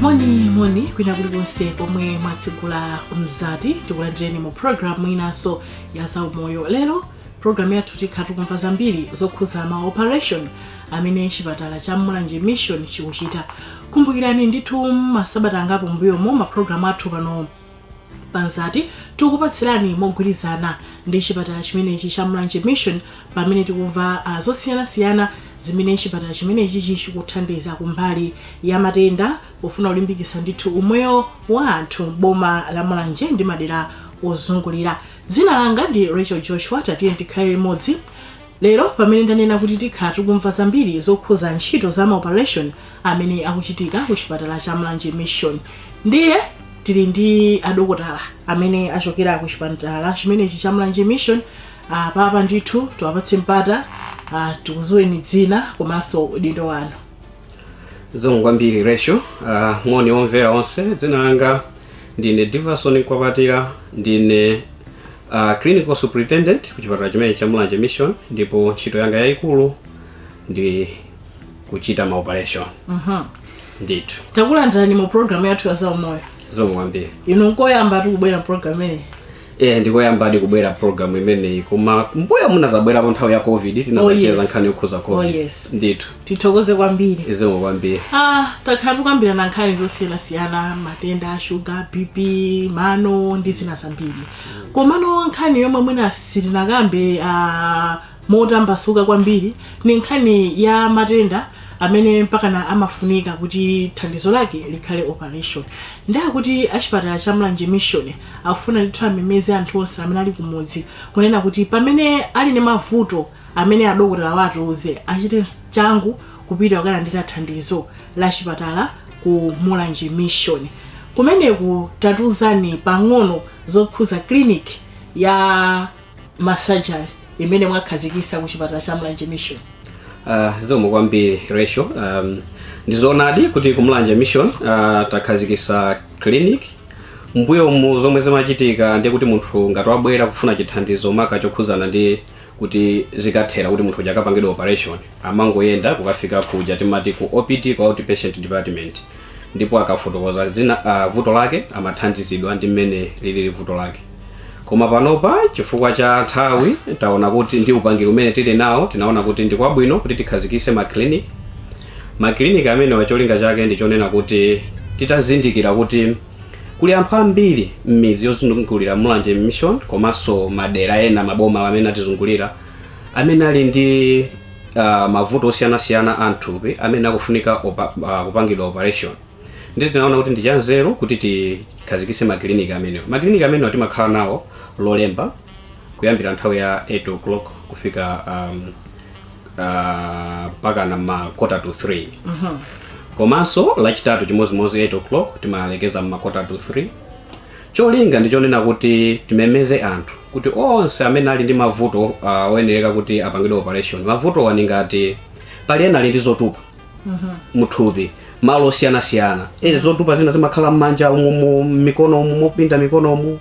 moni moni kwina kulikonse pomwe mwatsegula mzati tikulandireni mu programu inanso ya zaumoyo lero programu yathu tikhala tikumva zambiri zokhuza ma operation amene chipatala cha mulanje mission chikuchita kumbukirani ndithu mmasabata angapo mbuyomo maprogramu athu pano pa Mzati tikukupatsirani mogwirizana ndi chipatala chimenechi cha Mulanje Mission pamene tikumva uh, zosiyanasiyana zimene chipatala chimenechi chichikuthandiza kumbali ya matenda pofuna kulimbikitsa ndithu umoyo wa anthu m'boma la Mulanje ndi madera ozungulira dzina langa ndi Rachel Joshua tatiye tikhale limodzi Lero pamene ndanena kuti tikhala tikumva zambiri zokhuza ntchito za ma operation amene akuchitika ku chipatala cha Mulanje Mission ndiye tili ndi adokotala amene achokera ku chipatala chimenechi cha Mulanje Mission apapa ndithu tiwapatse mpata tikudziweni dzina komanso udindo wanu. zikomo kwambiri rachel uh, moni omvera onse dzina langa ndine diverson mkwapatira ndine uh, clinical superintendent ku chipatala chimenechi cha mulanje mission ndipo ntchito yanga yayikulu ndi kuchita maoperation Mhm. ndithu takulandirani mu programu yathu ya zaumoyo zikomo kwambiri inu nkoyamba kubwera mu programu imeneyi eh ndikoyambadi kubwera program imeneyi koma mbuyomu ndinazabwerapo nthawi ya covid tinazacheza Oh, yes. nkhani yokhuza covid Oh, yes. ndithu tithokoze kwambiri zikomo kwambiri Ah, takhala tikukambirana nkhani zosiyanasiyana matenda a shuga bp mano ndi zina zambiri komano nkhani yomwe mwina sitinakambe ah, motambasuka kwambiri ni nkhani ya matenda amene mpakana amafunika kuti thandizo lake likhale operation ndiye kuti achipatala cha mulanje mission akufuna ndithu amemeze anthu onse amene ali kumudzi kunena kuti pamene ali ndi mavuto amene adokotala atiuze achite changu kupita kukalandira thandizo la chipatala ku mulanje mission kumeneku tatuzani pang'ono zokhuza clinic ya ma surgery imene mwakhazikisa ku chipatala cha mulanje mission Uh, zikomo kwambiri rachel um, ndizoonadi kuti kumulanje mission uh, takhazikisa clinic mbuyomu zomwe zimachitika ndi kuti munthu ngati wabwera kufuna chithandizo maka chokhuzana ndi kuti zikathera kuti munthu uja akapangidwa operation amangoyenda kukafika kuja timati ku opd ku outpatient department ndipo akafotokoza dzina uh, vuto lake amathandizidwa ndi mmene lilili vuto lake koma panopa chifukwa cha nthawi taona kuti ndi upangiri umene tili nawo tinaona kuti ndi kwabwino kuti tikhazikise maclinic maclinic amenewa cholinga chake ndi chonena kuti titazindikira kuti kuli anthu ambiri m'midzi yozungulira mulanje mission komanso madera ena maboma amene atizungulira amene ali ndi uh, mavuto osiyanasiyana a mthupi amene akufunika opa, uh, kupangidwa operation ndiye tinaona kuti ndi chanzeru kuti tikhazikise makiliniki amenewa makiliniki amenewa timakhala nawo lolemba kuyambira nthawi ya 8 o'clock kufika um, uh, mpakana ma quarter to 3 komanso lachitatu chimodzimodzi 8 o'clock timalekeza ma quarter to 3 cholinga ndi chonena kuti timemeze anthu kuti onse amene ali ndi mavuto uh, oyenereka kuti apangidwe operation mavutowa ndi ngati pali ena ali ndi zotupa muthupi malo osiyanasiyana e, zotupa zina zimakhala mmanja umu mu mikono umu mopinda mikono umu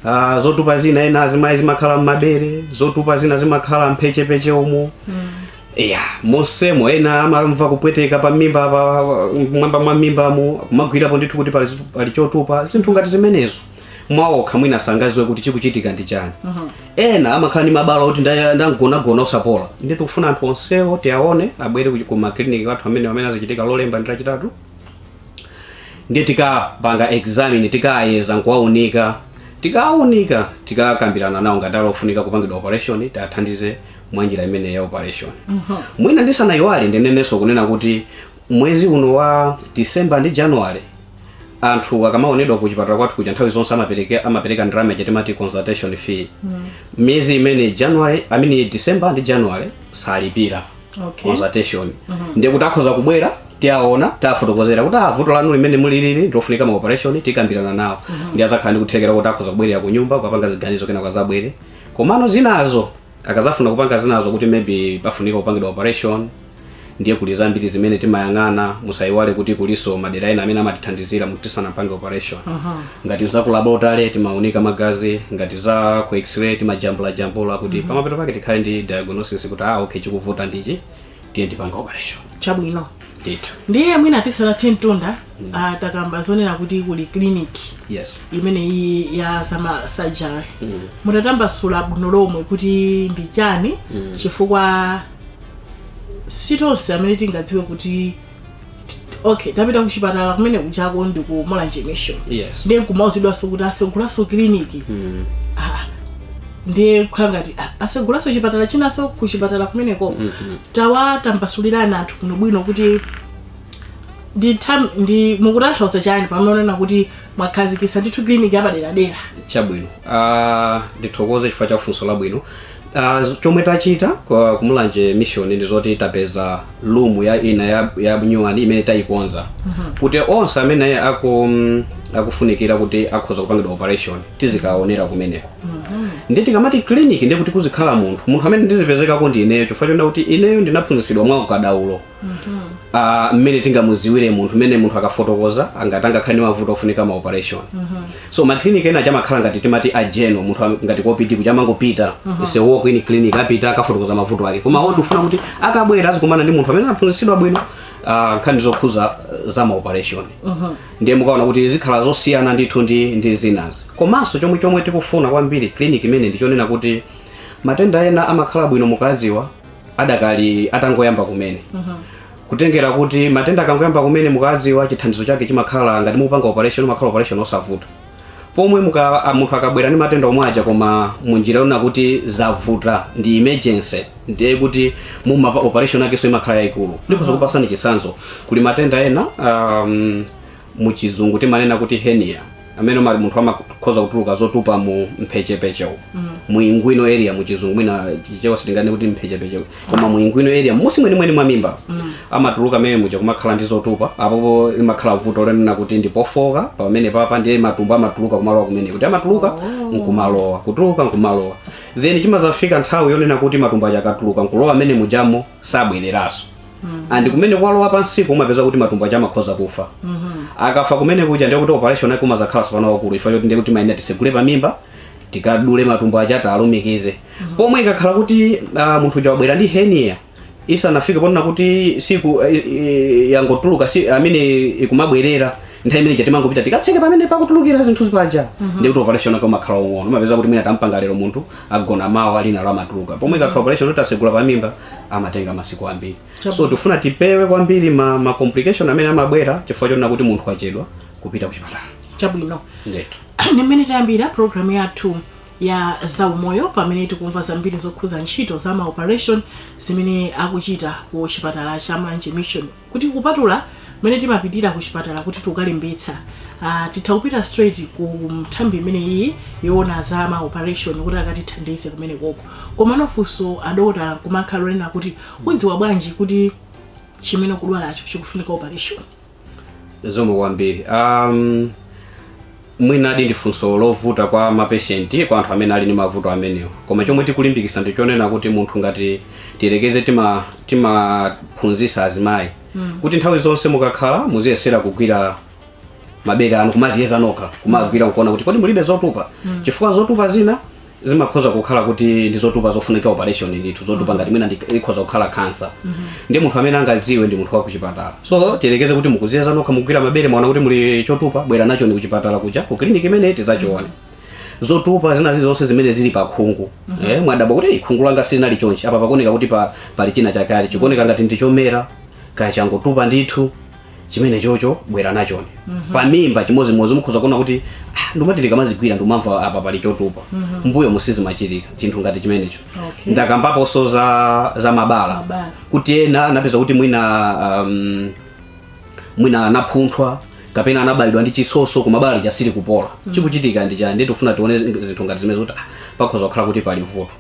uh, zotupa zina ena azimayi zimakhala mmabere zotupa zina zimakhala mphechepeche umu ya monsemo ena amamva kupweteka pa mimba mmwamba mwa mimbamo kumagwirapo ndithu kuti pali, pali chotupa zinthu ngati zimenezo mwaokha mwina sangaziwe kuti chikuchitika ndi chani ena amakhala ndi mabala oti nda- anamgonagona osapola ndiye tikufuna anthu onsewo tiaone abwere ku- ku makiliniki athu amene amene azichitika lolemba ndi lachitatu ndiye tikawapanga examine tikawayeza nkuwaunika tikawunika tikakambirana nawo ngati ali ofunika kupangidwa operation tiathandize mwa njira imeneyi ya operation mwina ndisanayiwale ndinenenso kunena kuti mwezi uno wa december ndi january anthu akamaonedwa ku chipatala kwathu kuja nthawi zonse amapereka amapereka ndalama ija timati consultation fee miyezi imeneyi january i mean december ndi january salipira Okay. consultation ndiye kuti akhoza kubwera tiwaona tiwafotokozera kuti ah, vuto lanu limene muli ili ndilofunika ma operation tikambirana nawo ndiye adzakhala ndi kuthekera kuti akhoza kubwerera ku nyumba kupanga ziganizo kenako azabwere komano zinazo akazafuna kupanga zinazo kuti maybe pafunika kupangidwa operation ndiye kuli zambiri zimene timayang'ana musayiwale kuti kuliso madera ena amene amatithandizira kuti tisanampange operation ngati za ku laboratory timaunika magazi ngati za ku x-ray timajambulajambula kuti pamapeto pake tikhale ndi diagnosis kuti ah okay chikuvuta ndichi tiyeni tipange operation chabwino ndithu ndiye mwina tisanathe mtunda uh, takamba zonena kuti kuli clinic yes imene iyi ya zama surgery mm. mutatambasula bwino lomwe kuti ndi chani mm. chifukwa si tonse amene tingadziwe kuti okay tapita kuchipatala kumeneko chako ndi ku mulanje mission yes ndiye nkumauzidwanso kuti asegulaso kiliniki mm. ah, ndiye kukhala ngati ah, asegulaso chipatala chinaso kuchipatala kumeneko mm -hmm. tawatambasulirani anthu bwinobwino kuti ndithu ndi mukutanthauza chani pamene unena kuti mwakhazikitsa ndithu clinic yapaderadera chabwino Ah, ndithokoze chifukwa cha funso labwino Ah, z- chomwe tachita kwa ku Mulanje Mission ndi zoti tapeza room ya ina ya, ya nyuwani imene tayikonza kuti onse amene aku, mm, akufunikira kuti akhoza kupangidwa operation tizikaonera kumeneko ndi tikamati clinic ndi kuti kuzikhala munthu munthu amene ndizipezekako ndi ineyo chifukwa chonena kuti ineyo ndinaphunzitsidwa mwa ukadaulo Ah, mmene tingamuziwire munthu mmene munthu akafotokoza angati angakhale ndi mavuto ofunika ma operation so maclinic ena amakhala ngati timati a general munthu am- ngati ku OPD kuti amangopita ise walk in clinic apita akafotokoza mavuto ake koma apa tikufuna kuti akabwera azikumana ndi munthu amene anaphunzitsidwa bwino ah, nkhani zokhuza za ma operation ndiye mukaona kuti zikhala zosiyana ndithu ndi ndi zinazi komanso chomwe chomwe tikufuna kwambiri clinic imeneyi ndichonena kuti matenda ena amakhala bwino mukaziwa adakali atangoyamba kumene kutengera kuti matenda akangoyamba kumene mukawadziwa chithandizo chake chimakhala ngati mukupanga operation umakhala operation osavuta pomwe muka, a- munthu akabwera ndi matenda omwe aja koma munjira yonena kuti zavuta ndi emergency ndiye kuti operation yakenso imakhala yayikulu ndikhoza kukupasani chitsanzo kuli matenda ena um, mu chizungu timanena kuti hernia amene mali munthu amakhoza kutuluka zotupa mu mphechepeche umu mm. mu inguinal area mu chizungu mwina chichewa tinganene kuti mphechepeche koma mu inguinal area munsi mwenimweni mwa mimba mm. amatuluka mmene muja kumakhala ndi zotupa apopo limakhala vuto lonena kuti ndi pofoka pamene paja ndiye matumbo amatuluka kumalowa kumene kuja amatuluka oh. nkumalowa kutuluka nkumalowa then chimazafika nthawi yonena kuti matumbo aja akatuluka nkulowa mmene mujamo sabwereranso and kumene kwalowa pansipo umapeza kuti matumbo aja amakhoza kufa akafa kumene kuja ndiye kuti operation yake umazakhala si pano waukulu chifukwa choti ndiye kuti timayenera tisegule pamimba tikadule matumbo aja tikalumikize pomwe ikakhala kuti ah, munthu uja wabwera ndi hernia isanafike ponena kuti siku eh, eh, yangotuluka pamene ikumabwerera nthawi imene ija timangopita tikatseke pamene pakutulukira zinthuzi paja ndiye kuti operation yake umakhala waung'ono umapeza kuti mwina tampanga lero munthu agona mawa lina lo amatuluka pomwe ikakhala operation yoti tasegula pamimba amatenga masiku ambiri so tifuna tipewe kwambiri ma, ma complication amene amabwera chifukwa chonena kuti munthu wachedwa kupita ku chipatala chabwino ndetu ni mmene tayambira programu yathu ya zaumoyo pamene tikumva zambiri zokhuza ntchito za maoperation zimene akuchita ku chipatala cha Mulanje Mission kuti kupatula mmene timapitira kuchipatala kuti tikalembetsa ah, titha kupita straight ku nthambi imene iyi yoona za ma operation kuti akatithandize kumene koko koma funso adokotala limakhala lonena kuti udziwa bwanji kuti chimene ukudwalacho chikufunika operation zomwe kwambiri um, mwinadi ndi funso lovuta kwa mapeshenti kwa anthu amene ali ndi mavuto amenewa koma chomwe tikulimbikisa ndi chonena kuti munthu ngati tiyerekeze tima- timaphunzisa azimayi kuti nthawi zonse mukakhala muziyesera kugwira mabere anu kumaziyeza nokha kumagwira nkuona kuti kodi mulibe zotupa chifukwa zotupa zina zimakhoza kukhala kuti ndi zotupa zofunika operation ndithu zotupa ngati mwina ndi- ikhoza kukhala kansa ndiye munthu amene angadziwe ndi munthu wa kuchipatala so tiyerekeze kuti mukuziyeza nokha mugwira mabere mwaona kuti muli chotupa bwera nachoni kuchipatala kuja ku kiliniki imene tizachione zotupa zina zilizonse zimene zili pa khungu eh, mwadabwa kuti "Ei, khungu langa silinali chonchi apa pakuoneka kuti pa, pali china chake chikuoneka ngati ndi chomera kaya changotupa ndithu chimene chocho bwera nachoni pamimba chimodzimodzi mukhoza kuona kuti "Ah, ndimati ndikamazigwira ndimamva apa pali chotupa mbuyo sizimachitika chinthu ngati chimenecho Okay. ndakambaponso za za mabala Mabala. kuti ena anapeza kuti mwina um, mwina anapunthwa kapena anabaidwa ndi chisoso koma bala lija silikupola chikuchitika ndi chani nde tufuna tione zi- zinthu ngati zimene zoti ah, pakhoza kukhala kuti pali vuto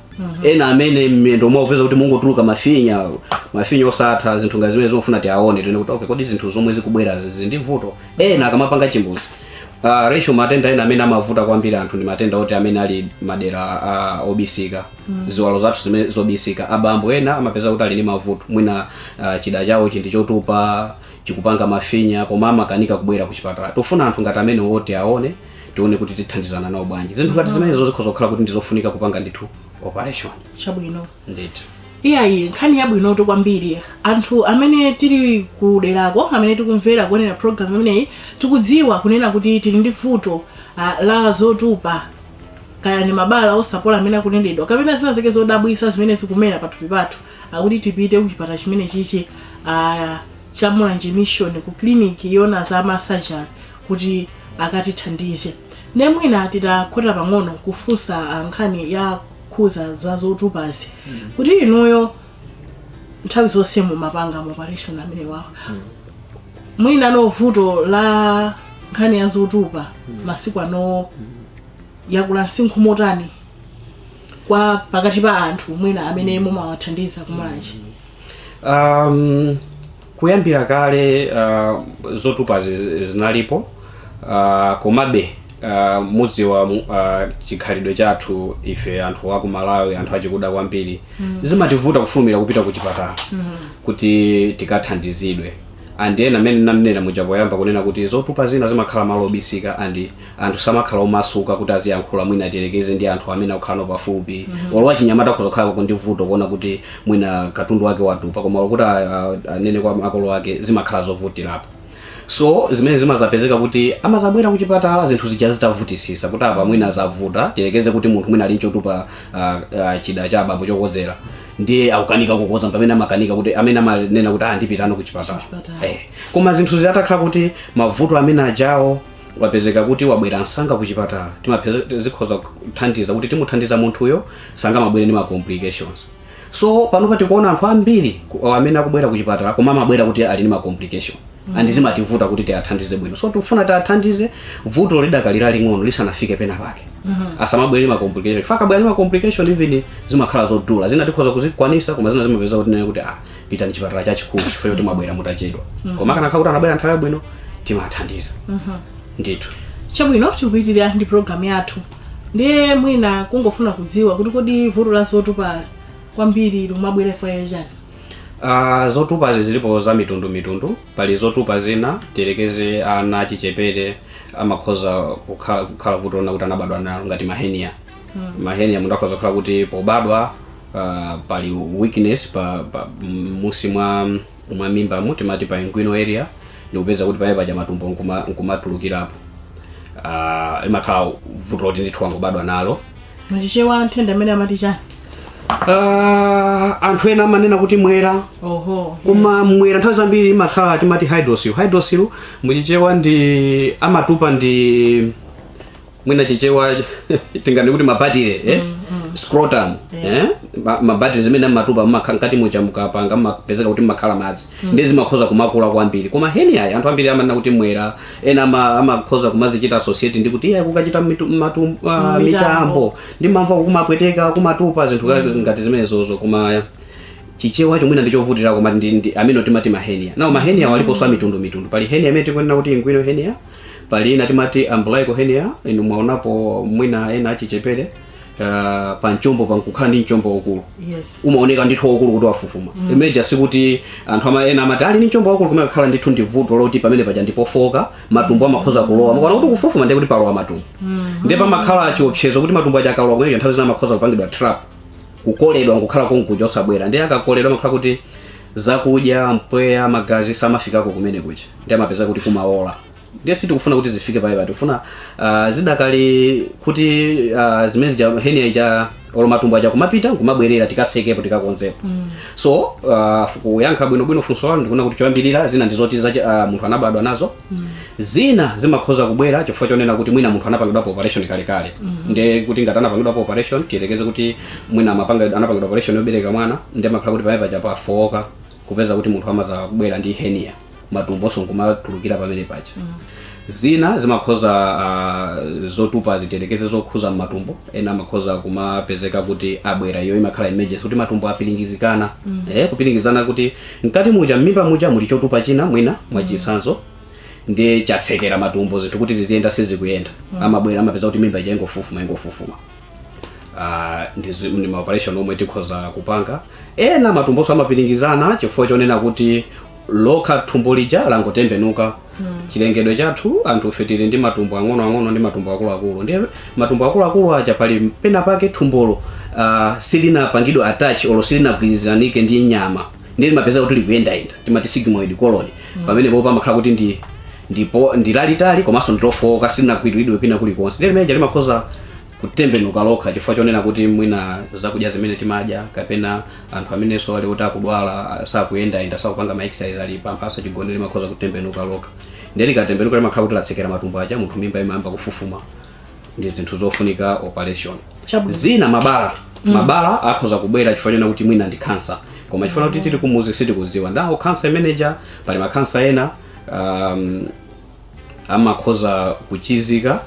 ena amene m'mwendo umo akupeza kuti mungotuluka mafinya mafinya osatha zinthu ngati zimene zimafuna tiaone tione kuti okay kodi zinthu zomwe zikubwera zizi ndi vuto ena akamapanga chimbuzi Uh, ratio matenda ena amene amavuta kwambiri anthu ndi matenda oti amene ali madera uh, obisika mm. ziwalo zathu zimene zobisika abambo ena amapeza kuti ali ndi mavuto mwina uh, chida chawo chili ndi chotupa chikupanga mafinya koma amakanika kubwera ku chipatala tufuna anthu ngati amene oti tiaone tione kuti tithandizana nawo bwanji zinthu ngati zimenezo zikhoza kukhala kuti ndizofunika kupanga ndithu operation chabwino ndithu iyayi nkhani yabwinotu kwambiri anthu amene tili kuderako amene tikumvera kuonera programu imeneyi tikudziwa kunena kuti tili ndi vuto ah, la zotupa kaya ni mabala osapola amene akunenedwa kapena zina zake zodabwisa zimene zikumera pathupi pathu akuti tipite kuchipatala chimene chichi ah, cha mulanje mission ku kliniki yoona za masajari kuti akatithandize nde mwina titakhota pang'ono kufunsa ah, nkhani yokhuza za zotupazi kuti inuyo nthawi zonse mumapanga ma operation amene wawa mwina no vuto la nkhani ya zotupa masiku ano yakula msinkhu motani kwa pakati pa anthu mwina amene mumawathandiza ku mulanje um, Kuyambira kale uh, zotupazi zi- zinalipo uh, komabe uh, mudziwa mu- uh, chikhalidwe chathu ife anthu aku malawi anthu achikuda kwambiri mm. zimativuta kufulumira kupita ku chipatala mm. kuti tikathandizidwe and nde mmene ndimanena muja poyamba kunena kuti zotupa zina zimakhala malo obisika and anthu samakhala omasuka kuti aziyankhula mwina tiyerekeze ndi anthu amene akukhala nawo pafupi olo wachinyamata akhoza kukhala ndi vuto kuona kuti mwina katundu wake watupa koma olo kuti a- a- anene kwa makolo ake zimakhala zovutirapo so zimene zimazapezeka kuti amazabwera kuchipatala zinthu zija zitavutisisa kuti apa mwina zavuta tiyerekeze kuti munthu mwina ali nchotupa ah, ah, chida cha abambo chokodzera ndiye akukanika kukodza pamene amakanika mpamene amanena kuti ah ndipite no kuchipatala Kuchipatala. eh. koma zinthu zitakhala kuti mavuto amene ajawo wapezeka kuti wabwera msanga ku chipatala timapeza zikhoza kuthandiza kuti timuthandiza munthuyo asanabwere ndi ma complications so panopa tikuona anthu ambiri ku- amene akubwera ku chipatala koma amabwera kuti ali ndi ma complication and zimativuta kuti tiwathandize bwino so tikufuna tiwathandize vuto lidakali laling'ono lisanafike pena pake asamabwere ndi ma complication chifukwa akabwera ndi ma complication even zimakhala zodula zina tikhoza kuzikwanisa koma zina zimapeza kuti tinene kuti ah pitani chipatala chachikulu chifukwa choti mwabwera mutachedwa koma akanakhala kuti anabwera nthawi yabwino timathandiza ndithu chabwino tikupitirira ndi programu yathu ndiye mwina kungofuna kudziwa kuti kodi vuto la zotupa kwambiri likumabwera chifukwa cha chani Ah, zotupazi zilipo za mitundu mitundu pali zotupa zina tiyerekeze ana achichepere amakhoza kukhala, kukhala vuto lina kuti anabadwa nalo ngati mahenia mahenia munthu akhoza kukhala kuti pobadwa ah, pali weakness pa, pa munsi mwa mwa mimbamo timati pa inguinal area ndikupeza kuti pamene paja matumbo nkuma- nkumatulukirapo Ah, limakhala vuto loti ndithu wangobadwa nalo muchichewa nthenda imene amati chani Ah, anthu ena amanena kuti mwera oho koma mwera nthawi zambiri imakhala timati hydrocele hydrocele muchichewa ndi amatupa ndi mwina chichewa tingati kuti mabatire eh? scrotum eh? Ma- mabatire amene amatupa mmakhala mkati muja mukapanga mmapezeka kuti mmakhala madzi ndi zimakhoza kumakula kwambiri koma heniayi anthu ambiri amanena kuti mwera ena ama- amakhoza kumazichita associate ndi kuti iye kukachita mitu- matu- ah, mitambo ndimamva kumapweteka kumatupa zinthu ka- ngati zimenezozo koma chichewa mwina ndichovutira koma ndi, ndi amene timati mahenia nawo mahenia aliponso amitundu mitundu pali henia imene tikunena kuti inguinal henia pali ina timati umbilical henia inu mwaonapo mwina ena achichepere uh, pa mchombo pankukhala ndi mchombo waukulu yes umaoneka ndithu waukulu kuti wafufuma mm. imeja sikuti anthu ama, ena amati ali ndi mchombo waukulu kumakhala ndithu ndi vuto loti pamene paja ndipofoka matumbo amakhoza kulowa mukaona kuti kufufuma ndiye kuti palowa matumbo mm. ndiye pamakhala chiopsezo kuti matumbo aja akalowa mmuja nthawi zina amakhoza kupangidwa trap kukoledwa nkukhala konkuja osabwera ndiye akakoledwa amakhala kuti zakudya mpweya magazi samafikako kumene kuja ndiye amapezeka kuti kumaola ndiye sitikufuna kuti zifike poipa tikufuna uh, zidakali kuti uh, zimene zija henia ija olo matumbo aja kumapita kumabwerera tikasekepo tikakonzepo mm. so uh, kuyankha bwinobwino funso lanu ndikuona kuti choyambirira zina ndi zoti za uh, munthu anabadwa nazo mm. zina zimakhoza kubwera chifukwa chonena kuti mwina munthu anapangidwapo operation kalekale mm. ndiye kuti ngati anapangidwapo operation tiyerekeze kuti mwina amapanga- anapangidwa operation yobereka mwana ndiye amakhala kuti pamene paja pafowoka kupeza kuti munthu amakhoza kubwera ndi henia matumbonso nkumatulukira pamene paja zina zimakhoza uh, zotupa zi- tiyerekeze zokhuza mmatumbo ena amakhoza kumapezeka kuti abwera iyo imakhala emergency kuti matumbo apiringizikana mm. eh, kupiringizana kuti mkati muja mmimba muja muli chotupa china mwina mwachitsanzo ndiye chatsekera matumbo zinthu kuti ziziyenda sizikuyenda mm. amabwera amapeza kuti mimba ija ingofufuma ingofufuma Ah, ndi zi- ndi ma operation omwe tikhoza kupanga ena matumbonso amapiringizana chifukwa chonena kuti lokha thumbo lija langotembenuka chilengedwe chathu anthu ife tili ndi matumbo ang'onoang'ono ndi matumbo akuluakulu ndiye matumbo akuluakulu aja pali pena pake thumbolo ah, silinapangidwe attach olo silinagwirizanike ndi nyama ndiye limapezeka kuti likuyendayenda timati sigmoid colon pamenepo pamakhala kuti ndi ndipo ndilalitali komanso ndilofowoka silinagwiridwe kwina kulikonse ndiye limeneja limakhoza kutembenuka lokha chifukwa chonena kuti mwina zakudya zimene timadya kapena anthu amenenso ali kuti akudwala sakuyendayenda sakupanga ma exercise ali pamphasa chigonere limakhoza kutembenuka lokha ndiye likatembenuka limakhala kuti latsekera matumbo aja munthu mimba imayamba kufufuma ndi zinthu zofunika operation Chabwino. zina mabala mabala akhoza kubwera chifukwa chonena kuti mwina ndi kansa koma chifukwa kuti tili kumuzi sitikudziwa ndawo kansa imeneja pali makansa ena um, amakhoza kuchizika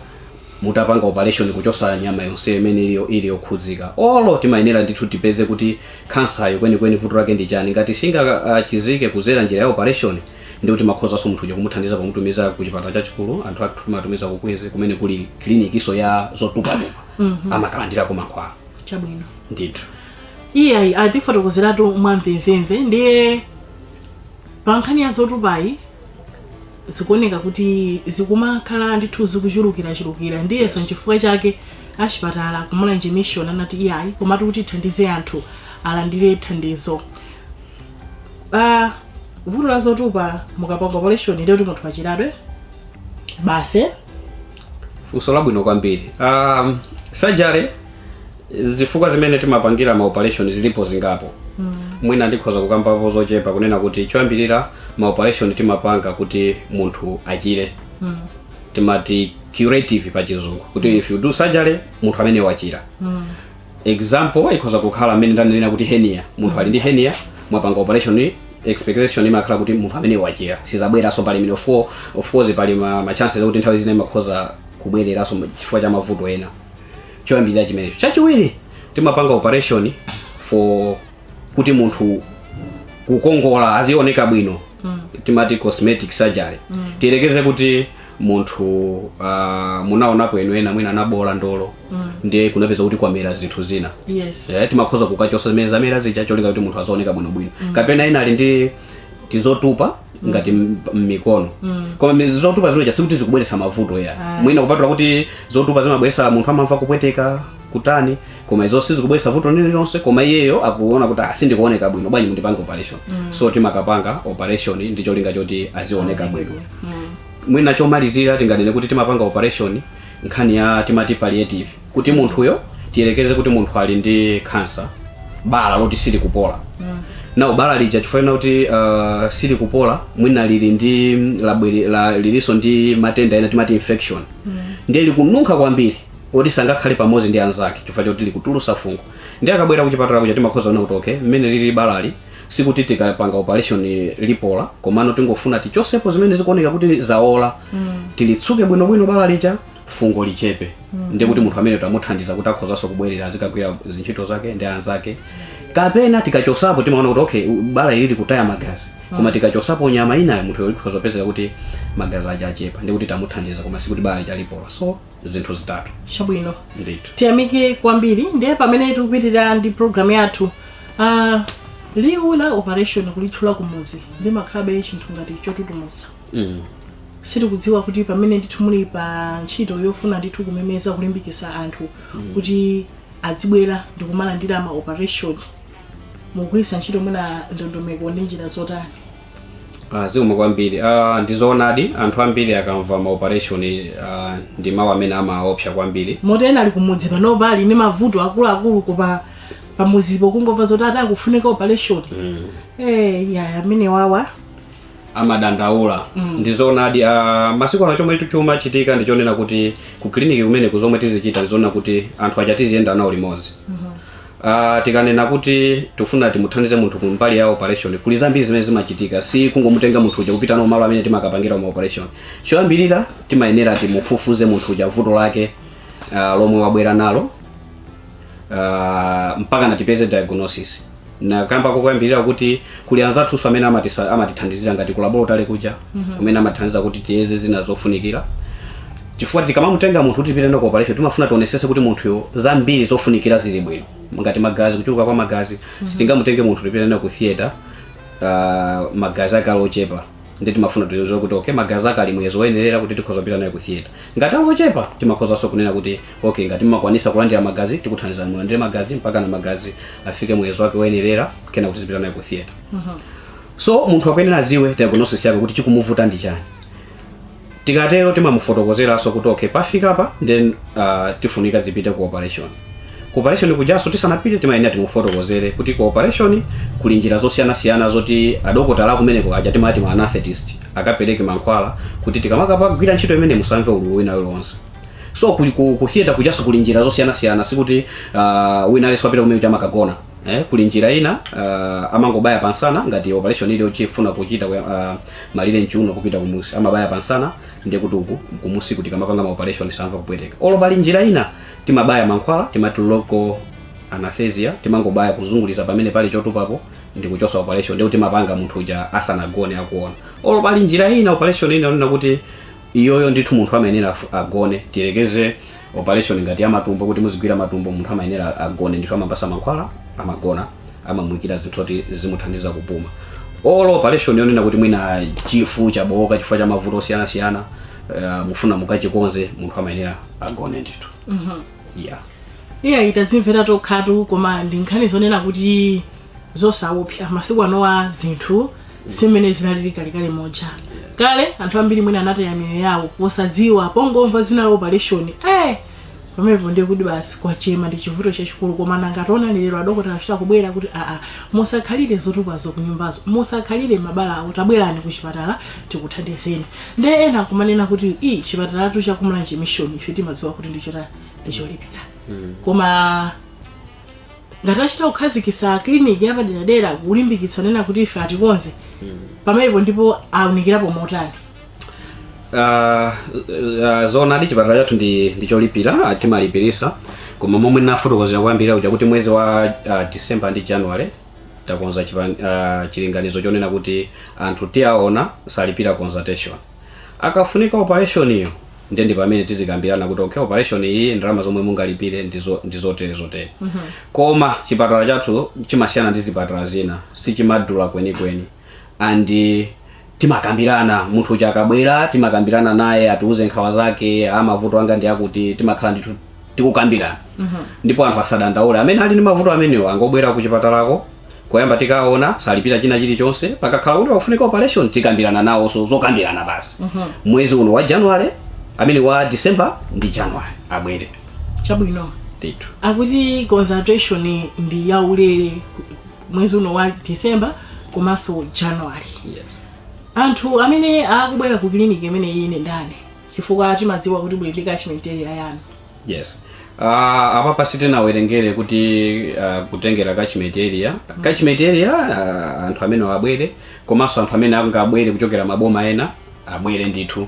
mutapanga operation kuchosa nyama yonse imene ili yo- ili yokhudzika olo timayenera ndithu tipeze kuti kansayo kwenikweni vuto lake ndi chani ngati singachizike kuzera njira ya operation ndiye kuti timakhozanso munthu uja kumuthandiza pomutumiza ku chipatala chachikulu anthu athu timatumiza ku Queens kumene kuli kilinikiso ya zotupatupa amakalandirako mankhwala chabwino ndithu iyayi atifotokozeratu mwamvemvemve ndiye pa nkhani ya zotupayi zikuoneka kuti zikumakhala ndithu zikuchulukirachulukira ndiyenso nchifukwa chake achipatala ku Mulanje Mission anati iyayi komatu kuti tithandize anthu alandire thandizo Ah, vuto la zotupa mukapanga operation ndiye kuti munthu wachiratu basi eh? funso labwino kwambiri um, surgery zifukwa zimene timapangira ma operation zilipo zingapo mwina ndikhoza kukambapo zochepa kunena kuti choyambirira ma operation timapanga kuti munthu achire timati curative pa chizungu kuti if you do surgery munthu amene wachira example ikhoza kukhala mmene ndanenera kuti hernia munthu ali ndi hernia mwapanga operation expectation imakhala kuti munthu ameneyo wachira sizabweranso pali imene of of course pali ma, ma chances akuti nthawi zina imakhoza kubwereranso chifukwa cha mavuto ena choyambirira chimenecho chachiwiri timapanga operation for kuti munthu kukongola azioneka bwino timati cosmetic surgery tiyerekeze kuti munthu uh, munaonapo inu ena mwina anaboola ndolo ndiye kunapeza kuti kwamera zinthu zina yes Eh, timakhoza kukachosa zimene zamera zija cholinga kuti munthu azaoneka bwinobwino kapena ena ali ndi tizotupa ngati m- mmikono koma mi- zotupa zimeja sikuti zikubweretsa mavuto ayi mwina kupatula kuti zotupa zimabweretsa munthu amamva kupweteka kutani koma izo sizikubweretsa vuto lililonse koma iyeyo akuona kuti "Ah, sindikuoneka bwino bwanji mundipange operation so timakapanga operation ndi cholinga choti azioneka bwino mwina chomalizira tinganene kuti timapanga operation nkhani ya timati palliative kuti munthuyo tiyerekeze kuti munthu ali ndi kansa bala loti silikupola ndiye bala lija chifukwa kuti uh, silikupola mwina lili ndi labwere- la- lilinso ndi matenda ena timati infection ndiye likununkha kwambiri oti sangakhale pamodzi ndi anzake chifukwa choti likutulusa fungo ndiye akabwera kuchipatala kuja timakhoza kuona kuti okay mmene lili balali sikuti tikapanga operation lipola komano tingofuna tichosepo zimene zikuoneka kuti zaola tilitsuke bwinobwino bala lija fungo lichepe ndiye kuti munthu ameneyo tamuthandiza kuti akhozanso kubwerera azikagwira zintchito zake ndi anzake kapena tikachosapo timaona kuti okay u- bala ili likutaya magazi koma tikachosapo nyama inayo munthuyo ikhoza kupezeka kuti magazi aja achepa ndiye kuti tamuthandiza koma sikuti bala lija lipola so zinthu zitatu chabwino ndithu tiyamike kwambiri ndiye pamene tikupitirira ndi programu yathu uh, liwu la operation kulitchula kumuzi limakhalabe chinthu ngati chotutumutsa mm. sitikudziwa kuti pamene ndithu muli pa ntchito yofuna ndithu kumemeza kulimbikisa anthu kuti adzibwera ndikumalandira ma operation mukugwiritsa ntchito mwina ndondomeko ndi njira zotani Ah, zikomo kwambiri ah, ndizoonadi anthu ambiri akamva ma operation ah, ndi mawu amene amaopsa kwambiri moti ena ali kumudzi panopa ali ndi mavuto akuluakulu koma pamudzipo kungomva zoti ati akufunika operation eh ya amenewa amadandaula ndizoonadi ah, masiku ano chomwe chumachitika ndichonena kuti ku kiliniki kumene kuzomwe tizichita ndizonena kuti anthu aja tiziyenda nawo limodzi Uh, tikanena kuti tikufuna timuthandize munthu kumbali ya operation kuli zambiri zimene zimachitika si kungomutenga munthu uja kupita nawo malo amene timakapangira ma operation choyambirira timayenera timufufuze munthu uja vuto lake uh, lomwe wabwera nalo uh, mpaka natipeze diagnosis ndakamba koyambirira kuti kuli anzathuso amene amatisa- amatithandizira ngati ku laboratory kuja kumene amatithandiza kuti tiyeze zina zofunikira chifukwa tikamamutenga munthu kuti tipite naye ku operation timafuna tionesese kuti munthuyo zambiri zofunikira zili bwino ngati magazi kuchuluka kwa magazi sitingamutenge munthu tipite naye ku theater uh, magazi ake ali ochepa ndi timafuna tiziwe kuti okay magazi ake ali muyezo woyenerera kuti tikhoza kupita naye ku theater ngati ali ochepa timakhozanso kunena kuti okay ngati mmakwanisa kulandira magazi tikuthandizani mulandire magazi mpaka na magazi afike muyezo wake woyenerera kenako tizipita naye ku theater so munthu akuyenera adziwe diagnosis yake kuti chikumuvuta ndi chani tikatero timamufotokozeranso kuti okay pafika apa then uh, tifunika zipite ku operation ku operation kujaso tisanapite timayenera timufotokozere kuti ku operation kuli njira zosiyanasiyana zoti adokotala akumeneko aja timati ma anesthetist akapereke mankhwala kuti tikamakapagwira ntchito imene musamve ululu wina uliwonse so ku, ku, ku theater kujaso kuli njira zosiyanasiyana sikuti uh, wina aliyense wapita kumeneko amakagona eh, kuli njira ina uh, amangobaya pansana ngati operation ili yofuna kuchita uh, malire mchuuno kupita kumusi amabaya pansana ndiye kuti uku kumusi tikamapanga maoperation samva kupweteka olo pali njira ina timabaya mankhwala timati local anesthesia timangobaya kuzunguliza pamene pali chotupapo ndi kuchosa operation ndiye kuti timapanga munthu uja asanagone akuona olo pali njira ina operation ina onena kuti iyoyo ndithu munthu amayenera agone tiyerekeze operation ngati ya matumbo kuti muzigwira matumbo munthu amayenera agone ndithu amampasa mankhwala amagona amamuikira zinthu zoti zimuthandize kupuma olo operation yonena kuti mwina chifu chabooka chifukwa cha mavuto osiyanasiyana uh, mufuna mukachikonze munthu amayenera agone ndithu yeah iye tadzimvera tokhatu koma ndi nkhani zonena kuti zosawopsa masiku anowa zinthu si mmene zinalili kalekale muja kale anthu ambiri mwina anataya miyoyo yawo posadziwa pongomva dzina la operation eh pamenepo ndiye kuti basi kwachema ndi chivuto chachikulu koma nanga taonani lero adokotala achita kubwera kuti aa musakhalire zotupazo kunyumbazo musakhalire mabala awo tabwerani ku chipatala tikuthandizeni nde ena akumanena kuti ii chipatalatu cha ku Mulanje mission ife timadziwa kuti ndichotani ndicholipira koma ngati achita kukhazikisa kiliniki yapaderadera kulimbikitsa onena kuti ife atikonze pamenepo ndiye aunikirapo motani Ah, ah, zona ndi chipatala chathu ndi ndi cholipira ah, timalipirisa koma momwe nafotokozera koyambirira kuja kuti mwezi wa ah, december ndi january takonza chipa- ah, chilinganizo chonena kuti anthu tiaona salipira consultation Akafunika operation yo ndiye ndi pamene tizikambirana kuti okay operation iyi ndalama zomwe mungalipire ndi zo ndi zotere zotere. Koma chipatala chathu chimasiyana ndi zipatala zina sichimadula kwenikweni and timakambirana munthu uja akabwera timakambirana naye atiuze nkhawa zake aa mavuto anga ndi akuti timakhala ndithu tikukambirana ndipo anthu asadandaule amene ali ndi mavuto amenewo angobwera ku chipatalako koyamba tikaona salipira china chilichonse pakakhala kuti pakufunika operation tikambirana nawonso zokambirana basi mwezi uno wa january amene wa december ndi january abwere chabwino ndithu akuti consultation ndi yaulere mwezi uno wa december komanso january yes. anthu amene akubwera ku clinic imeneyi ndi ndani chifukwa timadziwa kuti buli ndi catchment area yanu yes uh, apapa sitinawerengere kuti uh, kutengera catchment area catchment area uh, anthu amenewa abwere komanso anthu amene angabwere kuchokera maboma ena abwere ndithu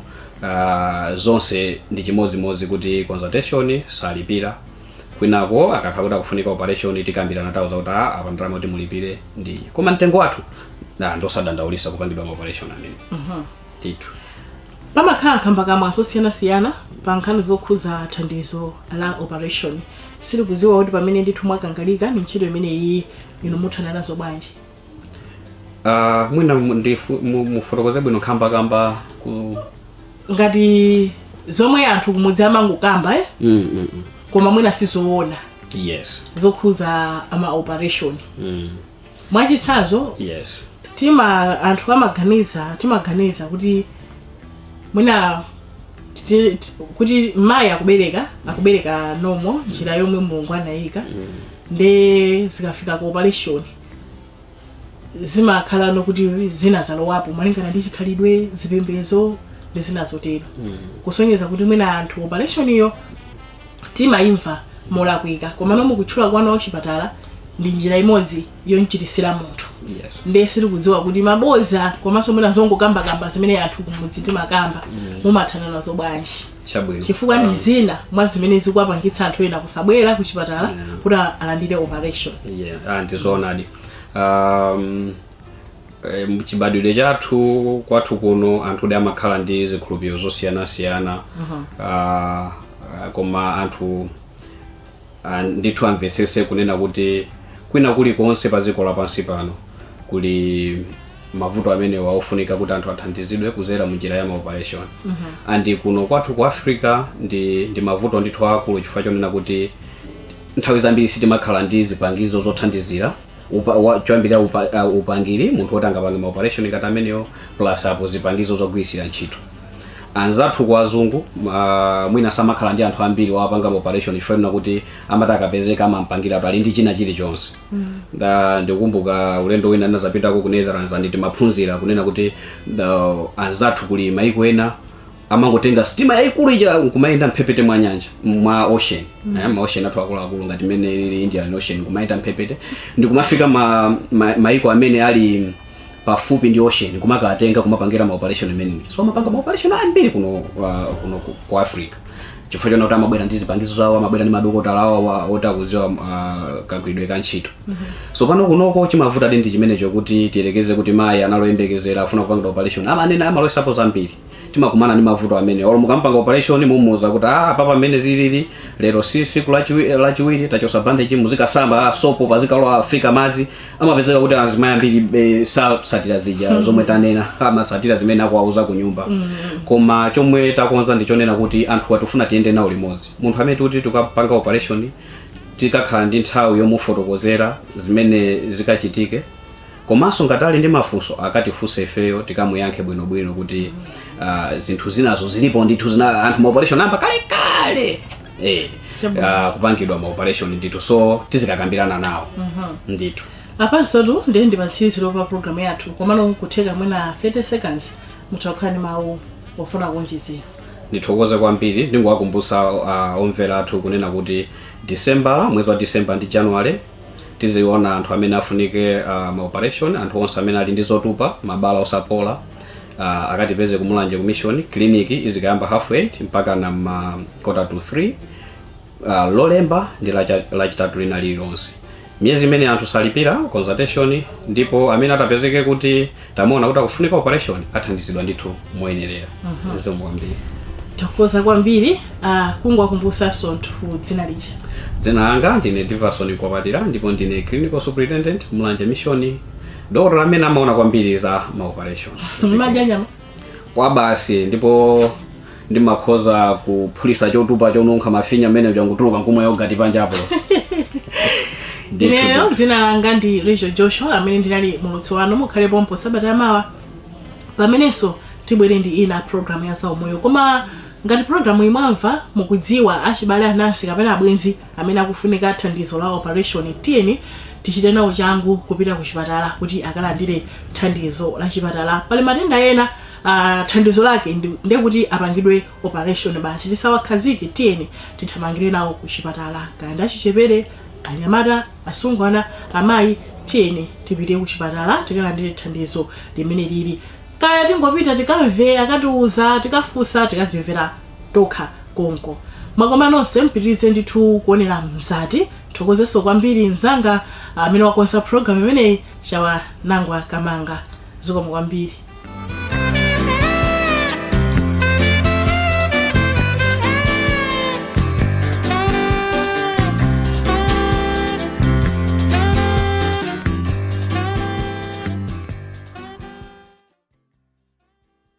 uh, zonse ndi chimodzimodzi kuti consultation salipira kwinako akakhala kuti akufunika operation tikambirana nawo zakuti "Ah, apa ndalama kuti mulipire ndi koma mtengo wathu ndosadandaulisa kupangidwa ma operation amene ndithu pamakhala nkhambakamwa zosiyanasiyana pa nkhani zokhuza thandizo la operation sitikudziwa kuti pamene ndithu mwakangalika ndi ntchito imeneyi inu muthana nazo bwanji Ah, mwina mu- ndifu- mu- mufotokoze bwino nkhambakamwa ngati zomwe anthu kumudzi amangokamba eh? Mm, mm, mm. koma mwina sizoona yes zokhuza ma operation mm. mwachitsanzo yes tima anthu amaganiza timaganiza kuti mwina titi- ti- kuti mmayi akubereka akubereka nomo njira yomwe mulungu anayika nde zikafika ku operation zimakhala nokuti zina zalowapo malingana ndi chikhalidwe zipembedzo ndi zina zotero kusonyeza kuti mwina anthu operation iyo timaimva molakwika komano mukutchula kwanu wachipatala ndi njira imodzi yomchiritsira munthu Yes. ndiye sitikudziwa kuti mabodza komanso mwina zongokambakamba zimene anthu kumudzi timakamba mumathana nazo bwanji Chabwino. chifukwa ndi zina mwa zimene zikuwapangitsa anthu ena kusabwera ku chipatala kuti alandire operation Yeah, ah, ndizoonadi. Um, E, mchibadwidwe chathu kwathu kuno anthudi amakhala ndi zikhulupiriro zosiyanasiyana Ah, ah, koma anthu ah, ndithu amvetsese kunena kuti kwina kulikonse pa dziko lapansi pano kuli mavuto amenewa ofunika kuti anthu athandizidwe kuzera mu njira ya maoperation and kuno kwathu ku africa ndi, ndi mavuto ndithu akulu chifukwa chonena kuti nthawi zambiri sitimakhala ndi zipangizo zothandizira upa, wa, choyambirira upa, uh, upangiri munthu woti angapange maoperation ngati amenewo plus apo zipangizo zogwirisira ntchito anzathu kwa azungu uh, mwina samakhala ndi anthu ambiri owapanga maoperation chifukwa kuti amati akapezeka amampangiratu ali ndi china chilichonse mm. ndikumbuka ulendo wina ndinazapitako ku netherlands and timaphunzira kunena kuti uh, anzathu kuli maiko ena amangotenga sitima yaikulu ija nkumayenda mphepete mwa nyanja mwa ocean mm. eh, ma ocean athu akuluakulu ngati imene ili indian ocean kumayenda mphepete ndikumafika ma, ma, maiko amene ali pafupi ndi ocean kumakatenga kumapangira ma operation amene so amapanga ma operation ambiri kuno uh, kuno ku, ku africa chifukwa chonena kuti amabwera ndi zipangizo zawo amabwera ndi madokotala awo wa- oti akuziwa uh, kagwiridwe ka ntchito so pano kunoko chimavuta ndi chimenecho kuti tiyerekeze kuti mayi anali oyembekezera afuna kupanga operation amanena amalowetsapo zambiri timakumana ndi mavuto amene olo mukampanga operation mumuuza kuti ah apa pamene zilili lero si siku lachiwi- lachiwiri tachosa bandage muzikasamba ah, sopo pazikalowa pazifika madzi amapezeka kuti azimayi ambiri eh, sasatira zija zomwe tanena amasatira zimene akuwauza ku nyumba koma chomwe takonza ndichonena kuti anthu tifuna tiyende nawo limodzi munthu amene tikuti tikapanga operation tikakhale ndi nthawi yomufotokozera zimene zikachitike Komanso ngati ali ndi mafunso akatifunse ifeyo tikamuyankhe bwinobwino kuti ah, zinthu zinazo zilipo ndithu zina anthu ma operation ayamba kale kale eh, Chabwino. ah, kupangidwa ma operation ndithu so tizikakambirana nawo ndithu apano tu ndiye ndi patsiriziro pa programu yathu komano kutheka mwina 30 seconds mutakhala ndi mawu ofuna kuonjezera ndithokoze kwambiri ndingowakumbutsa uh, omvera athu kunena kuti december mwezi wa december ndi january tiziona anthu amene afunike uh, maoperation anthu onse amene ali ndi zotupa mabala osapola uh, akatipeze ku mulanje ku mission clinic izikayamba half 8 mpaka na ma quarter to 3 uh, lolemba ndi lacha- lachitatu lina lililonse miyezi imeneyi anthu salipira consultation ndipo amene atapezeke kuti tamuona kuti akufunika operation athandizidwa ndithu moyenerera zikomo kwambiri tathokoza kwambiri uh, kungowakumbusanso anthu dzina lija dzina langa ndine diverson mkwapatira ndipo ndine clinical superintendent mulanje mission dokotala amene amaona kwambiri za maoperation mumadya nyama kwabasi ndipo ndimakhoza kuphulisa chotupa chonunkha mafinya mmenemuja nkutuluka nkumwa yogati panjapo ineyo dzina langa ndi rachel joshua amene ndinali mulutsi wanu mukhale pompo sabata yamawa pamenenso tibwere ndi ina programu ya zaumoyo koma ngati programuyi mwamva mukudziwa achibale anansi kapena abwenzi Amene akufunika thandizo la opareshoni tiyeni tichite nawo changu kupita kuchipatala kuti akalandire thandizo la chipatala. Pali matenda ena thandizo lake ndi kuti apangidwe opareshoni basi. Tisawakhazike, tiyeni tithamangire nawo kuchipatala. Kaya ndi achichepere, anyamata, asungwana, amayi, tiyeni tipite kuchipatala tikalandire thandizo limeneli. Kaya tingopita tikamve akatiuza, tikafunsa, tikadzimvera. tokha konko. Mwakoma nonse mupitirize ndithu kuonera Mzati ndithokozenso kwambiri mnzanga amene wakonza program imeneyi Chawa Nangwa Kamanga zikomo kwambiri.